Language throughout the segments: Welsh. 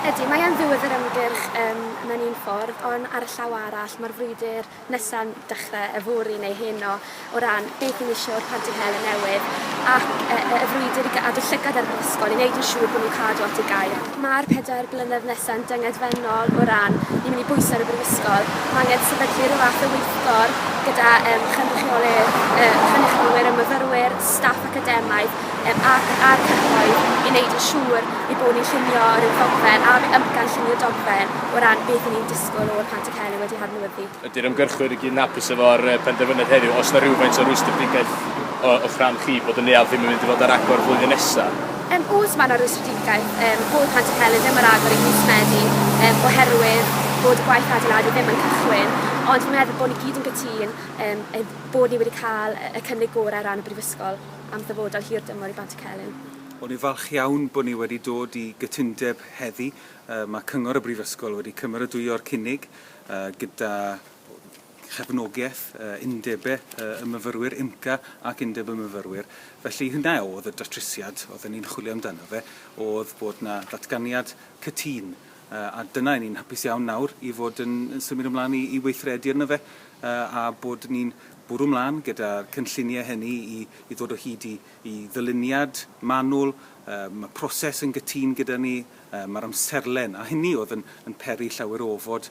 Ydy, mae e'n ddiwedd yr ymgyrch um, mewn un ffordd, ond ar y llaw arall, mae'r frwydr nesa'n dechre yfory neu heno o ran beth ni'n isio o'r Panti Helen newydd ac yy yy y frwydr i gadw llygad ar yr ysgol i neud yn siŵr bo' nhw'n cadw at y gair. Ma'r pedair blynedd nesa'n dyngedfennol o ran ni'n myn' i bwyso ar y Brifysgol. Ma' angen sefydlu ryw fath o weithgor gyda yym chynrychiolydd yy cynrychiolwyr y myfyrwyr, staff academaidd yym ac a'r cyhoedd i neud yn siŵr ei bo' ni'n llunio ryw ddogfen a ryw amcan llunio dogfen o ran beth 'yn ni'n disgwl o'r Panti Pele wedi hadnewyddu. Ydy'r ymgyrchwyr i gyd yn hapus efo'r penderfyniad heddiw? Oes 'na rywfaint o rwystredigaeth o'ch rhan chi bod y neuadd ddim yn mynd i fod ar agor flwyddyn nesa? Yym oes mae 'na rwystredigaeth yym bod Panti Pele ddim ar agor yn mis Medi yym oherwydd bod y gwaith adeiladu ddim yn cychwyn ond fi'n meddwl bod ni gyd yn gytûn yym ein bod ni wedi cael y cynnig gorau ar ran y Brifysgol am ddyfodol hir dymor i Bantycelyn. O'n i'n falch iawn bod ni wedi dod i gytundeb heddi Mae Cyngor y Brifysgol wedi cymeradwyo'r cynnig gyda chefnogaeth Undebau y Myfyrwyr, UMCA, ac Undeb y Myfyrwyr. Felly hynna oedd y datrysiad oedden ni'n chwilio amdano fe, oedd bod 'na ddatganiad cytun, a dyna 'yn ni'n hapus iawn nawr i fod yn symud ymlaen i i weithredu arno fe, a bod ni'n bwrw ymlaen gyda'r cynlluniau hynny i i ddod o hyd i i ddyluniad manwl. Mae proses yn gytun gyda ni, Mae'r amserlen, a hynny oedd yn yn peri llawer o ofod,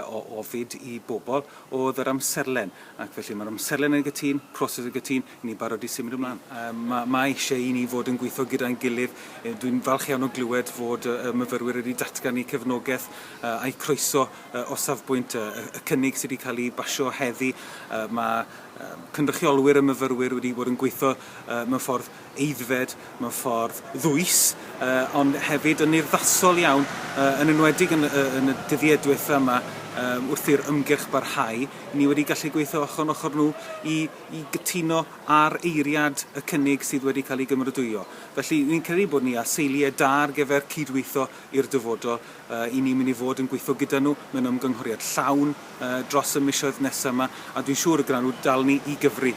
o ofid i bobl, oedd yr amserlen. Ac felly mae'r amserlen yn gytun, proses yn gytun, i ni barod i symud ymlaen. Mae mae eisiau i ni fod yn gweithio gyda'n gilydd. Dwi'n falch iawn o glywed fod y myfyrwyr wedi datgan eu cefnogaeth a'u croeso o safbwynt y cynnig sydd wedi cael ei basio heddi. Mae cynrychiolwyr y myfyrwyr wedi bod yn gweithio mewn ffordd aeddfed mewn ffordd ddwys ond hefyd yn urddasol iawn, yn enwedig yn y dyddiau diwethaf yma wrth i'r ymgyrch barhau. Ni wedi gallu gweithio ochr yn ochr nhw i gytuno ar eiriad y cynnig sydd wedi cael ei gymeradwyo. Felly, rwy'n credu bod ni ar seiliau da ar gyfer cydweithio i'r dyfodol. Ry'n ni'n mynd i fod yn gweithio gyda nhw mewn ymgynghoriad llawn dros y misoedd nesaf yma a dwi'n siŵr y gwnawn nhw dal ni i gyfri.